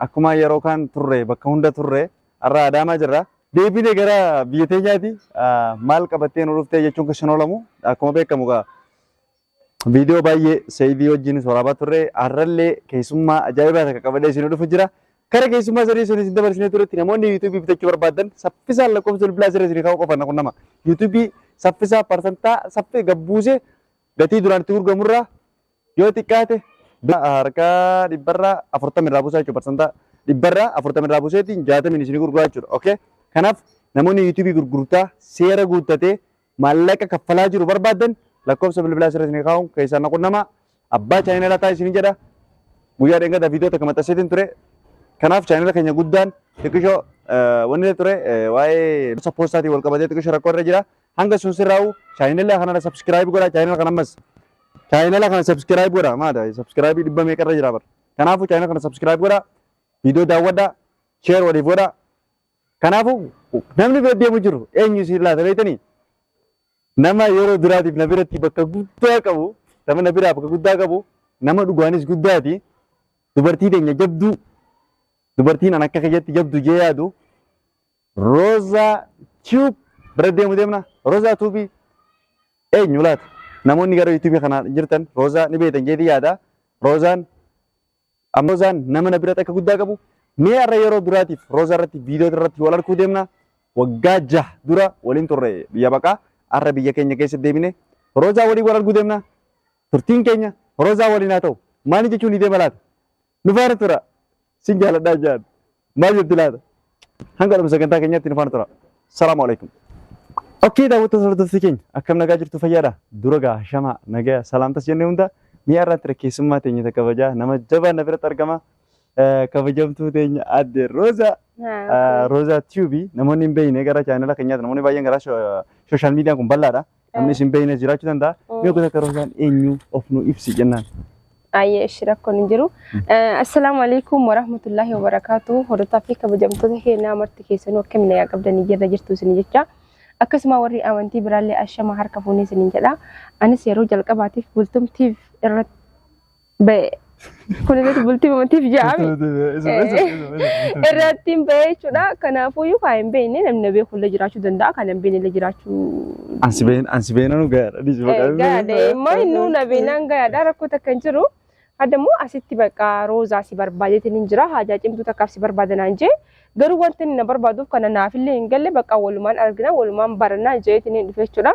akkuma yeroo kaan turre bakka hunda turre har'a Adaamaa jirra. Deebine gara biyya teenyaati maal qabattee nu dhuftee jechuun kan oolamu akkuma beekamu gaa viidiyoo baay'ee seeyidii wajjin waraabaa turre har'allee keessummaa ajaa'ibaa takka qabadee isin dhufu jira. Kara keessummaa sadii sun isin dabarsinee turetti namoonni yuutuubii bitachuu barbaadan saffisaan lakkoofsa bilbilaa sirrii isin kaa'uu qofan kun nama yuutuubii saffisaa parsantaa saffee gabbuusee gatii duraan itti gurgamurraa Yoo xiqqaate harkaa dhibbarraa afurtama irraa buusaa jechuudha parsantaa dhibbarraa afurtama irraa buuseetiin jaatamiin isin gurguraa jechuudha. Okay? Kanaaf namoonni yuutuubii gurgurtaa seera guuttatee maallaqa kaffalaa jiru barbaadan lakkoofsa bilbilaa sirrii isin kaa'uun keessaan na qunnamaa abbaa chaayinalaa ta'a isin jedha guyyaa dheengada viidiyoo takka maxxanseetiin ture kanaaf chaayinala keenya guddaan xiqqishoo wanni ture waa'ee poostaatiin wal qabatee xiqqishoo rakkoo irra jira Hanga sun sirraa'u chaayinala kanarra subscribe godha chaayinala kana ammas chaayinala kana subscribe godha maadha subscribe dhibba meeqarra jira bara. Kanaafuu chaayinala kana subscribe godha viidiyoo daawwadha share waliif godha. Kanaafuu namni bira deemu jiru eenyu si laata beektanii? Nama yeroo duraatiif na biratti bakka guddaa qabu nama na biraa bakka guddaa qabu nama dhugaanis guddaati dubartii teenya jabduu dubartiin an akka keessatti jabdu jee yaadu Roza Tube bira deemu deemna. Roza Tube eenyu laata? Namoonni gara YouTube kana jirtan Roza ni beektan jeetii yaada. Rozaan amma Rozaan nama na biratti akka guddaa qabu mee har'a yeroo duraatiif Roza irratti viidiyoo irratti wal arguu deemna. Waggaa jaha dura waliin turre biyya baqaa har'a biyya keenya keessa deemine Rozaa waliin wal arguu deemna. Turtiin keenya Rozaa waliin haa ta'u. Maali jechuun ni deema laata? nu faana tura sin jaaladhaa jaan maal jetti laata hanga dhuma sagantaa keenyaatti nu faana tura salaamu alaikum Okkee daawwattoota hordoftoota keenya akkam nagaa jirtu fayyaadha dura gaa shama nagaa salaamtas jennee hunda mi'a irratti rakkeessummaa teenya isa kabajaa nama jabaa na biratti argama Eh, kabajamtuu teenya adde Rooza Rooza Tube namoonni hin beekne gara chaanala keenyaatti namoonni baay'een gara sooshaal miidiyaan kun bal'aadha Namni isin beekne jiraachuu danda'a. Mm. Mee gosa karoosaan eenyu of nu ibsi jennaan. Ayyee ishi rakkoon hin jiru. Eh, Assalaamu alaikum warahmatullaahi wabarakaatu. Hordofaa fi kabajamtoota keenyaa marti keessanuu akka milayaa qabdanii jirra jirtu isin jecha. Akkasuma warri amantii biraallee ashama harka fuunee isiniin jedha. Anis yeroo jalqabaatiif bultumtiif irratti ba'e. Kun irratti bultii mamatiif jaami. Irratti hin ba'e jechuudha. Kanaafuu iyyuu kan hin beekne namni na beeku illee jiraachuu danda'a. Kan hin beekne illee jiraachuu. Ansi been ansi beenanu gaadha dhisi Gaadha. Immoo inni na beenaan gaadha rakkoo takka hin jiru. Hadda immoo asitti bakka roozaa si barbaadeetiin hin jira. Haajaa cimtuu takkaaf si barbaadanaan jee. Garuu wanti inni na barbaaduuf kana naafillee hin galle bakka walumaan argina walumaan barannaa jeetiin hin dhufe jechuudha.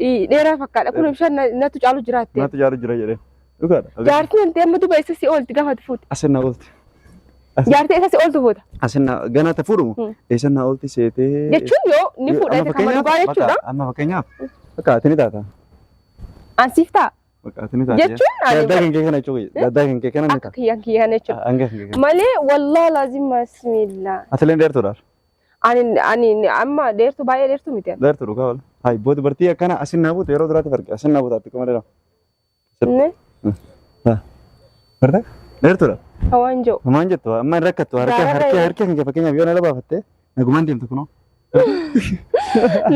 Ii, Dheeraa fakkaadha. Kun bishaan na- natu caalu jiraatte. Naatti jaalu jira jedhee. Dhugaadha. Jaartiin hanti amma duba isa si oolti gaafa ati fuute. Asin na oolti. Jaartii isa si ooltu fuuta. Asin na ganaa ta fuudhumu. Hmm. Eessan na oolti seetee. Jechuun yoo ni fuudha Amma isa kan fakkeenyaaf- dhugaa jechuudha. bakka- Amma fakkeenyaaf. Bakka ati ni taata. An siif ta'a. Bakka ati ni taata. Jechuun ani Gaddaa kan kee kana jechuudha. Gaddaa kan kee kana ni akka taata. kiyyaan kiyyaan jechuudha. Hanga kan kee kana. Malee wallaa laazim bismillah. Ati illee dheertuudhaaf. Ani ani amma dheertuu baay'ee dheertuu miti. ani. Dheertu dhugaa wala. Hayi boo dubartii akkana asin naa buutu yeroo duraatti farge asin naa buutu atti kuma dheeraa. Inni Bartee? Dheertudha. hawaan jiru. Maal jettu amma hin rakkattu harka Gaararra harka hin- harka keenya fakkeenyaaf yoo na labaafattee nagumaan deemtu kunoo.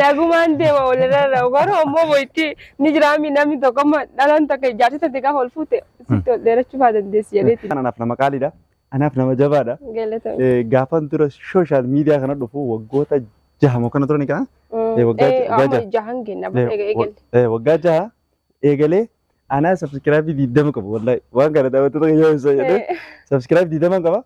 Nagumaan deema walirra ra'u garuu ammoo boyitti ni jiraami namni tokko amma dhalaan takka ijaarsi tante gaafa ol fuute sitti ol dheerachuu faa dandeessi jedheeti. Kanaaf nama qaaliidha. anaaf nama jabaadha. Galatoom. Eh, Gaafan dura sooshaal miidiyaa kana dhufu waggoota jaha moo kana turani kana? Eh, waggaa Eh, jaha- amma jaha. jahan kenna Eh, eega- eegalle. Eh, Waggaa jaha eegalee anaa sabskiraabii diidama qabu wallahi waan kana daawwattoota kan yoo ibsa jedhee Eh, sabskiraabii diidama qaba.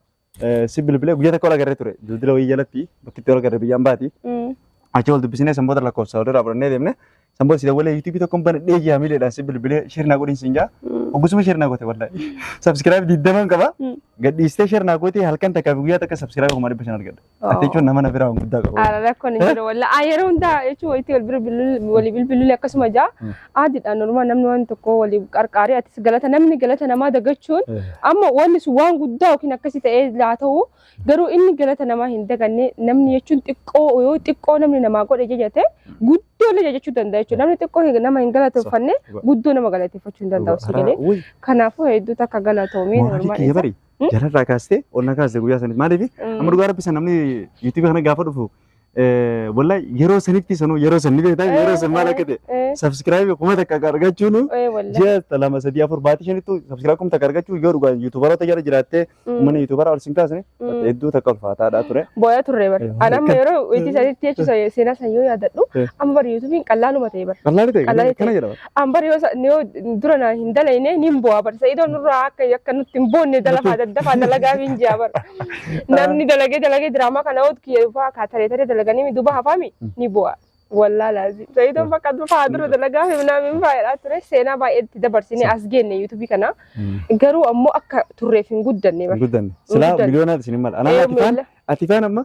Eh, Si bilbilee guyyaa tokko wal agarree ture dildila wayii jalatti bakki itti wal agarre biyyaan baati. mm, Achi wal dubbisnee sanboota lakkoofsa walirraa fudhannee deemne San booda si dawwalee yuutuubii tokkoon banadhee ji'a miileedhaan si bilbilee sheer naa godhin siin jaa. Mm. Hoggusuma sheer naa goote wallahi. Sabskiraayib digdaman qaba. Mm. Gadhiistee sheer naa goote halkan takkaa fi guyyaa takka sabskiraayib kuma dhibba shan argadha. Oh. Ati jechuun nama na biraa waan guddaa qabu. Ara rakkoon hin jiru walla. Ah yeroo hundaa jechuun walitti wal bira bilbiluu walii bilbiluu akkasuma jaa. Mm. Aadiidhaan normaa namni waan tokko walii qarqaaree atis galata namni galata namaa dagachuun amma wanni sun waan guddaa yookiin akkasii ta'ee laa ta'u Garuu inni galata namaa hin daganne namni jechuun xiqqoo yoo xiqqoo namni namaa godhe jajate guddoo illee jajachuu danda'a jechuudha. Namni xiqqoo hin- nama hin galateeffanne Dhugaa. guddoo nama galateeffachuu hin danda'u si galee. Uy, Kanaafuu hedduu takka galatoomee mooraalii normaal kiyya isa. bari. Hmm? Jalarraa kaastee ol na kaaste guyyaa saniif. Maaliif? Amma dhugaa rabbi san namni yuutuubii kana gaafa dhufu Eh, Wallahi yeroo sanitti sanuu yeroo sanni beektaa yeroo san maal akka ta'e Eh, subscribe kuma takka akka argachuun eh, wallahi. ji'a lama sadii afur baatii shanittu subscribe kuma takka argachuun yoo dhugaa yuutuubaroota jala jiraattee Mm, uummanni yuutuubaraa ol sin kaasne mm. hedduu takka ulfaataadhaa ture. Booya turre bar. Eh, An amma akka- yeroo itti sanitti jechuun seenaa san yoo yaadadhu Eh. amma bar yuutuubiin qallaaluma ta'e bar. Qallaali ta'e Qallaali kana jedhama. An bar yoo sa- yoo dura na hin dalayne nin bu'a bar sa'idoon nurraa akka akka nutti hin boonne dalafaa daddafaa dalagaa min ji'a bar. Namni dalagee dalagee diraamaa kana oot kiyya dhufaa kaa taree taree dalaganii mi duba hafaami ni bu'a. Wallaa laazim. Sa'idoon bakka dufaa dura dalagaa fi minaa min faayadhaa ture seenaa baay'ee itti dabarsine as geenne yuutuubii kana. Garuu ammoo akka turreef hin guddanne bar. Guddanne. Silaa guddanne. miliyoonaa isin hin mala. Anaa Ee, ati faan miila. ati faan amma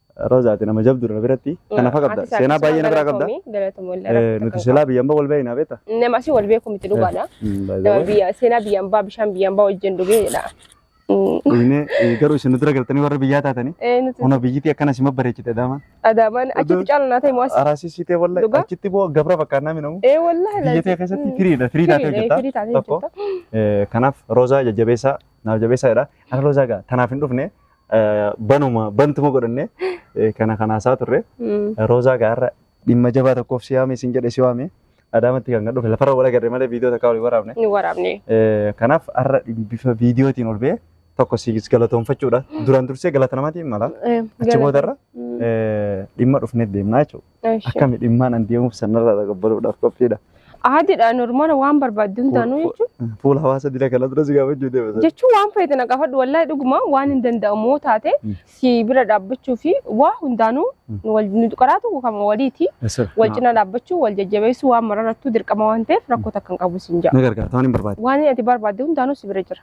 Rozaati nama jabduudha na biratti. Kanaaf qabda. Seenaa baay'ee na biraa qabda. Nuti silaa biyya ambaa wal beekna beekta. Nama asii wal beeku miti dhugaadha. Nama biyya seenaa biyya ambaa bishaan biyya ambaa wajjin dhugeedha. Inni garuu isin dura galtanii warra biyyaa taatanii. Hona biyyiti akkana sima bareechite daama. Adaamaan achitti caalu naa ta'e mo'as. Araasii siitee wallahi achitti boo gabra fakkaannaa minamu. Ee wallahi. Biyya ta'e keessatti firiidha firii taatee hojjeta. Firii taatee hojjeta. Kanaaf roozaa jajjabeessaa naaf jabeessaadha. Ana roozaa gaa tanaaf hin dhufne eh, banuma bantuma godhanne eh, kana kan haasaa turre. Mm. Roozaa gaarra dhimma jabaa tokkoof si yaame isin jedhe si waame. Adaamatti kan dhufe lafarra wal agarre malee viidiyoo takka waliin waraabne. Ni waraabne. Eh, Kanaaf har'a bifa viidiyootiin ol ba'e tokko si galatoomfachuudha. Duraan dursee galata namatiin mala. Eh, Achi boodarra Mm. eh, dhimma dhufneef deemnaa jechuudha. Eesh. Akkami dhimmaan an deemuuf sanarraa dhaqabbaluudhaaf qophiidha. Aadidha normaala waan barbaaddu hundaanuu jechuun Fuula hawaasa dila kana dura si gaafachuu deema. jechuun waan feete na gaafadhu wallahi dhuguma waan hin danda'amu yoo taate Mm. si bira dhaabbachuu fi waa hundaanuu Mm. nu wal- nu qaraatu kan waliiti wal cina dhaabbachuu wal jajjabeessuu waan mararattuu dirqama waan ta'eef rakkoo takka hin qabu siin jedha. Na gargaarta waan hin barbaade. Waan ati barbaadde hundaanuu si bira jira.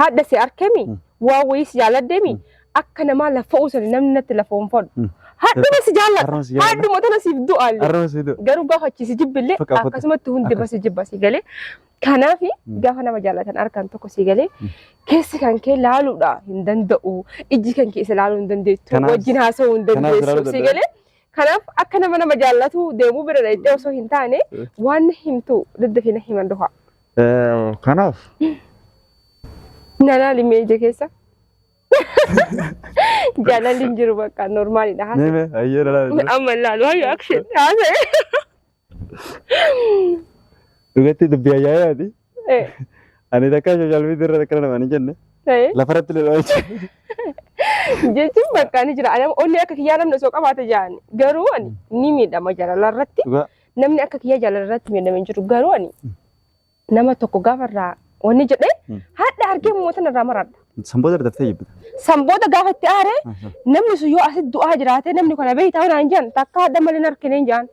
haadha si arkemi Mm. waa wayii si jaaladdeemi akka namaa laffa'uu sana namni natti lafoonfadhu Mm. haadhuma si jaallata Harma si jaalladha. haadhuma tana siif du'aalle Arraba situ. garuu gaafa achi si jibbillee Faqa, faqa. akkasumatti hundi Akkas. basi jibba si galee kanaaf Mm. gaafa nama jaallatan arkan tokko si galee Mm. keessi kan kee laaluudha hin danda'u ijji kan kee isa laaluu hin dandeettu Kanaaf- wajjin haasa'uu hin kanaaf ilaaluu dandeessu si danda'u. galee kanaaf akka nama nama jaallatu deemuu bira dhaqxee osoo hin taane Eh. waan na himtu daddafina himan duha Kanaaf Nanaa limee ija keessa. Jaalalli hin jiru bakka normaalidha. haasa. nime ayyee dhalaa Amma ilaalu hayyo akshin haasa'e. dhugatti dubbii ayyaayaati. Eh, Ani takka social media irra akkana namaan hin jenne eh. lafarratti leloo jechuudha. Jechuun bakka ni jira. Ani onni akka kiyyaa namni osoo qabaate jaani. Garuu ani ni miidhama jaalala irratti. Dhugaa Namni akka kiyya jaalala irratti miidhame hin jiru. Garuu ani Mm. nama tokko gaafa irraa wanni jedhee Mm. haadha argee mootan irraa maradha. Sanboota daftee jibbita. San booda gaafa itti aaree namni sun yoo asitti du'aa jiraate namni kana beektaa waan hin jedhan takka haadha malee hin argine hin jedhan.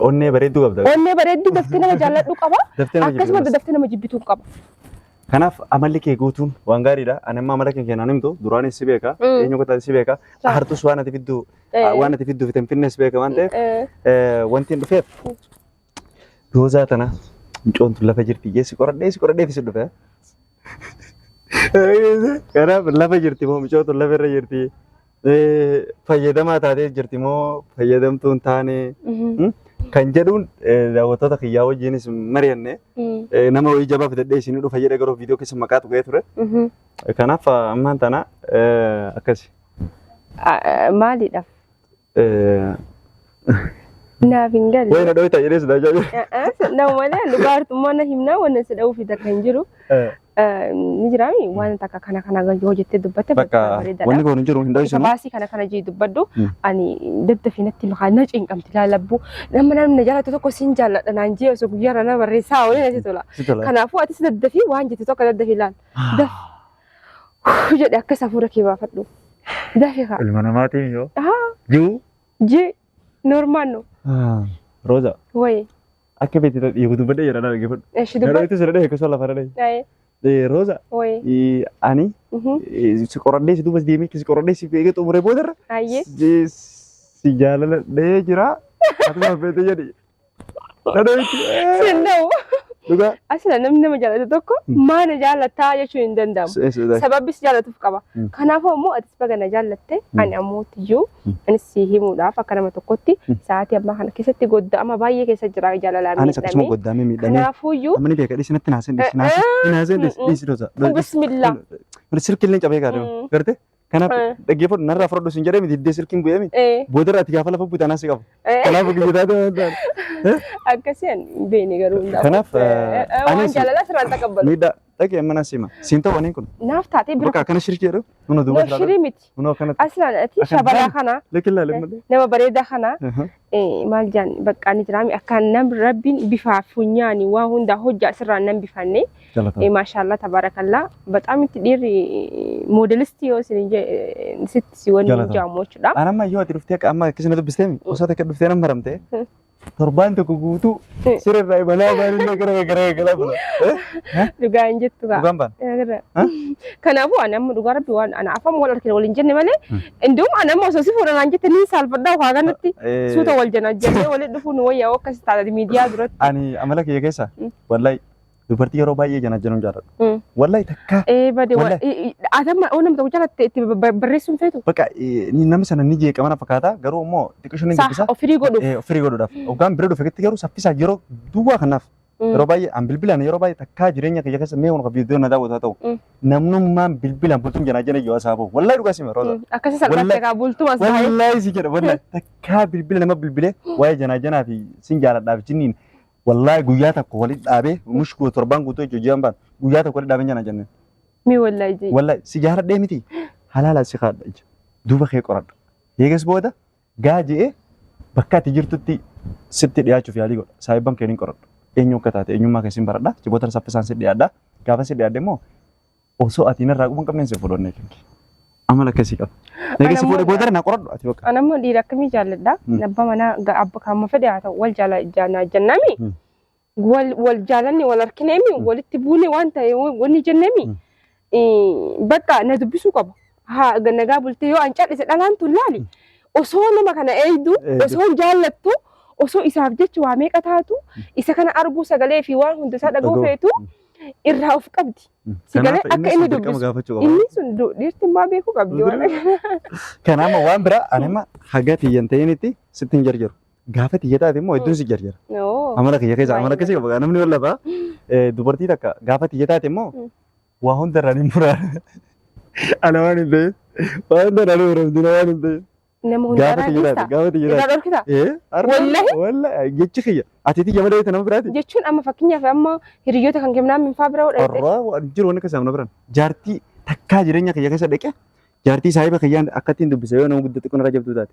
Onnee bareedduu qabda. Onnee bareedduu daftee nama jaalladhu qaba. Daftee nama Akkasuma jibbitu. daftee nama jibbitu qaba. Kanaaf amalli kee guutuun waan gaariidha. Ani amma amala kee keenan himtu duraanis si beeka. Mm. Eenyu akka taate si beeka. Sa'a. Hartus waan ati fidduu Eh. Waan ati fidduuf itin finnes beeka waan ta'eef Eh, eh, wanti hin dhufeef doozaa tana mucoon tun lafa jirti jee si qoradhee si qoradhee fi si dhufe. Kanaaf lafa jirti moo mucoon tun lafa irra jirti eh, fayyadamaa taatee jirti moo fayyadamtuu hin taane mhm, hmm? kan jedhuun eh, daawwattoota kiyyaa wajjinis mari'anne mhm, eh, nama wayii jabaa fidadhee isin dhufa jedhee garuu viidiyoo keessa maqaa tuqee ture. mhm. Kanaaf ammaan tana eh, akkasi. Maalidhaaf? Naaf hin galle. Wayna dhoyta jedhee si daajaa jiru. Nama malee dhugaartummaa na himnaa wanna si dha'uuf takka hin jiru. Ni jiraami waan takka kana kana yoo jettee dubbatte Bakka wanni kun hin jiru hin dhoysinu. Baasii kana kana jee dubbadhu ani daddafi natti makaa na cinqamti laalabbu nama namni jaalatu tokko sin jaalladha naan jee osoo guyyaarra na barreessaa waliin natti tola. Kanaafuu atis daddafi waan jettu tokko daddafi laal. jedhe akkas hafuura kee baafadhu. Dafee kaa. Ilma namaatiin yoo. Haa Juu. jee normaal no Rooza. wayee Akka beekti dhiigu dubbadhee jedha dhala geeffadhu. eshi Dhala dubbat itti sirrii dhahee akkasuma lafa dhala. ayee Rooza. wayee Ani mhm, si qoradhee si duubas deemee si qoradhee si eegee xumuree boodarra. ayee Si jaaladhee jira. Ati maaf beekte jedhi. Sinda'u. Dhugaa. Asina namni nama jaallatu tokko maa na jaallataa jechuun hin danda'amu. Sababni si jaallatuuf qaba. Mm. Kanaafuu ammoo atis baga na jaallatte ani ammoo iyyuu anis si himuudhaaf akka nama tokkotti sa'aatii ammaa kana keessatti godda'ama baay'ee keessa jira jaalalaa Anis akkasuma miidhame. goddaamee miidhamee. Kanaafuu iyyuu Amma ni beeka dhiisi natti naasee dhiisi naasee naasee dhiisi dhiisi dosa. bismillah. Mana sirkii illee cabee gaadama. Mm. Gartee? Kanaaf Eh. dhaggeeffadhu narraa fudhadhu sin jedhee miti hiddee silkiin bu'ee miti. Eh, Boodarra ati gaafa lafa buute anaa si qaba. eh, Kanaaf guyyaa taate waan taate. akkasii ani hin beekne garuu hundaaf. Kanaaf, Eh, eh, eh, waan anis- jaalalaa sirraa hin taqabbalu. Miidhaa dhaqee amma naa siima. Siin ta'u waniin kun. Naaf taatee bira Bakka akkana shirkii jedhu. Nuna duuba Noo shirii miti. Nuna akkanatti. Aslaan ati Akkan- shabaraa kana Lekkillaa lemmalee. nama bareedaa kana maal jaan baqqaa ni jiraami akkaan nam rabbiin bifaa funyaani waa hundaa hojjaa asirraa nan bifanne Jalatama. maashaallah tabaarakallaa baxaam itti dhiirri moodelistii yoo isin je- sitti si waliin Jalatama. jaamu jechuudha. An amma yoo ati dhuftee akka amma akkasii na dubbisteemi osoo takka dhuftee nan maramte Hmm. torbaan tokko guutuu Hmm. sirrirraa imalaa baanillee gara gara gara bula. Dhugaa hin jettu kaa. Dhugaan baan. Agarra. Huh? Kanaafuu ani amma dhugaa rabbi waan ana afaan wal argine waliin jenne malee Hmm. Indum an amma osoo si fuudha naan jette niin saalfadhaa ukaa kanatti Eh, suuta wal jana jennee walitti dhufuu nu wayyaa akka si taate miidiyaa duratti. Ani amala kiyya keessa Mm. wallahi dubartii yeroo baay'ee janajjanuun jaalladha. Mm. Wallahi takka Ee bade Walla- atamma oo namta guddaa latte itti ba- ba- barreessuun feetu. bakka eh, ni- namni sana ni jeeqama na fakkaata garuu immoo xiqqishoon ni Saa dubbisa. ofirii godhuuf. Eh, Firii godhuudhaaf. Hoggaan bira dhufe garuu saffisaa yeroo duwwaa kanaaf Mm. Yeroo baay'ee an bilbilaan yeroo baay'ee takkaa jireenya kiyya keessa mee kun viidiyoo na daawwatu haa ta'u. Mm. Namnummaan bilbilaan bultuun janaa jana yoo asaa bahu. Wallaahi dhugaa sima rooza. Akkasii salphaatti Wallahi- egaa bultuma isaa. Wallaahi si jedha wallaahi takkaa bilbila nama bilbilee waa'ee janaa janaa fi sin jaaladhaaf jinniin. Wallaahi guyyaa tokko walitti dhaabee mushkuu torbaan guutuu jechuun jiran baan guyyaa tokko walitti dhaabee janaa jenneen. Mi wallaahi jee. Wallaahi si jaaladhee miti halaala si kaadha ija. Duuba kee qoradha. Eegas booda Gaa je'ee bakka ati jirtutti sitti dhiyaachuuf yaalii godha. Saahibban kee nin qoradhu. Eenyu akka taate eenyummaa kee sin baradha. Achi booda saffisaan si dhiyaadha. Gaafa si dhiyaadhe immoo osoo ati narraa quba hin qabneen si fuudhannee kee. Amala akkasii qaba. Egaa si Anammoo- fuudhe booda na qoradhu ati bakka. An ammoo dhiira akkamii jaalladha? Mm. Abba manaa ga- abba kaamma fedhe haa ta'u wal jaala jaanaa jennami. Mm. wal wal jaalanne wal arkineemi Mm. walitti buune waan ta'e wanni jenneemi Mm. eh, bakka na dubbisuu qaba. Haa ga- nagaa bultee yoo an cal'ise dhalaan tun laali osoo nama kana eeydu Eeydu. osoo jaallattu osoo isaaf jecha waa meeqa taatu isa kana arguu sagalee fi waan hunda isaa dhaga'uu Dhaga'uu. feetu irraa of qabdi. Sagalee Kanaaf akka inni inni sun dirqama dubbisu. gaafachuu qaba. Inni sun du- dhiirtummaa beekuu qabdi waan Dirqama. Kanaaf waan biraa anima haga tiyyan ta'initti sitti hin jarjaru. Gaafa xiyya taate immoo hedduun si jarjara. Oo. Amala kiyya keessa amala keessa qaba namni wal lafa eh, dubartii takka gaafa xiyya taate immoo Mm. waa hunda irraa ni muraa. Ana waan hin ta'eef waa hunda irraa ni muramti na waan hin ta'eef. Nama Gaafa hundarraa xiyya taate dhiista. gaafa xiyya Irraa taate. dhorkita. Eh, arra- Wallahi? wallahi jechi kiyya ati xiyya malee ta'e nama biraati. Jechuun amma fakkeenyaaf amma hiriyoota kan kennaa minfaa bira godhate. Arraa waan jiru wanni keessa amna biran. Jaartii takkaa jireenya kiyya keessa dhaqe jaartii saahiba kiyyaan akkattiin dubbise yoo nama guddatti kun irra jabduu taate.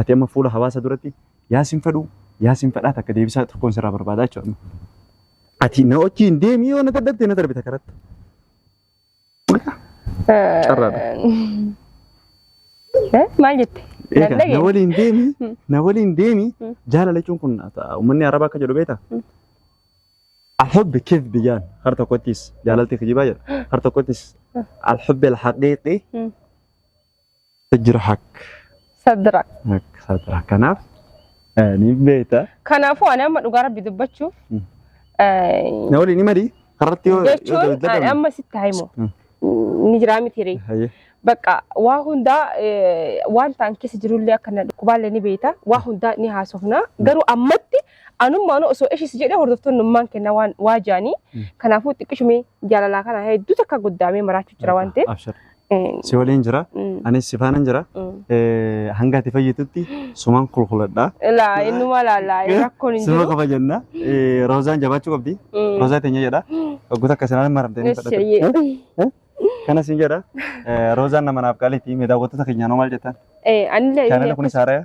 Ati amma fuula hawaasa duratti yaasin fedhuu yaasin fedhaa takka deebisaa tokkoon sirraa barbaadaa jechuudha. Ati na wajjin deemii yoo na dadhabde na darbita karatti. Carraadha. Eh, Maal jette? Egaa na Dandage? waliin deemi na waliin deemi Mm. jaalala jechuun kun ata- uummanni arabaa akka jedhu beekta Mm. alhubbi kif biyyaan har tokkottis jaalalti kijibaa jedha har tokkottis alhubbi alhaqiiqi Mm. Sidrahak. Sadrak. Ak- Sadrak. Kanaaf eh, ni beekta. Kanaafuu ani amma dhugaa rabbi dubbachuuf Mm. eh, Na waliin himari. Karratti yoo jechuun ani amma sitti himu Mm. ni jiraa miti ree. Hayyee. Bakka waa hundaa eh, waan ta'an keessa jirullee akka na dhukkubaallee ni beekta. Waa hundaa ni haasofna. Garuu ammatti anummaan osoo ishis jedhee hordoftoonni ummaan kenna waan waa jaanii. Mm. Kanaafuu xiqqishumee jaalalaa kana hedduu takka guddaamee maraachuu jira waan ta'eef. Abshir. Mm, si waliin jira mm, anis si faanan jira mm. Eh, hanga ati fayyitutti sumaan kulkuladha Ilaa innuma laalaa rakkoon hin suma jiru. qofa jenna Eh, roozaan jabaachuu qabdi Mm. roozaa teenya jedha waggoota akka sanaan maramtee ni fudhatu Eesseeyyee. kanas hin jedha Eh, roozaan nama naaf qaaliiti mee daawwattoota keenyaanoo maal jettan Eh, anillee chaanala kunis haaraya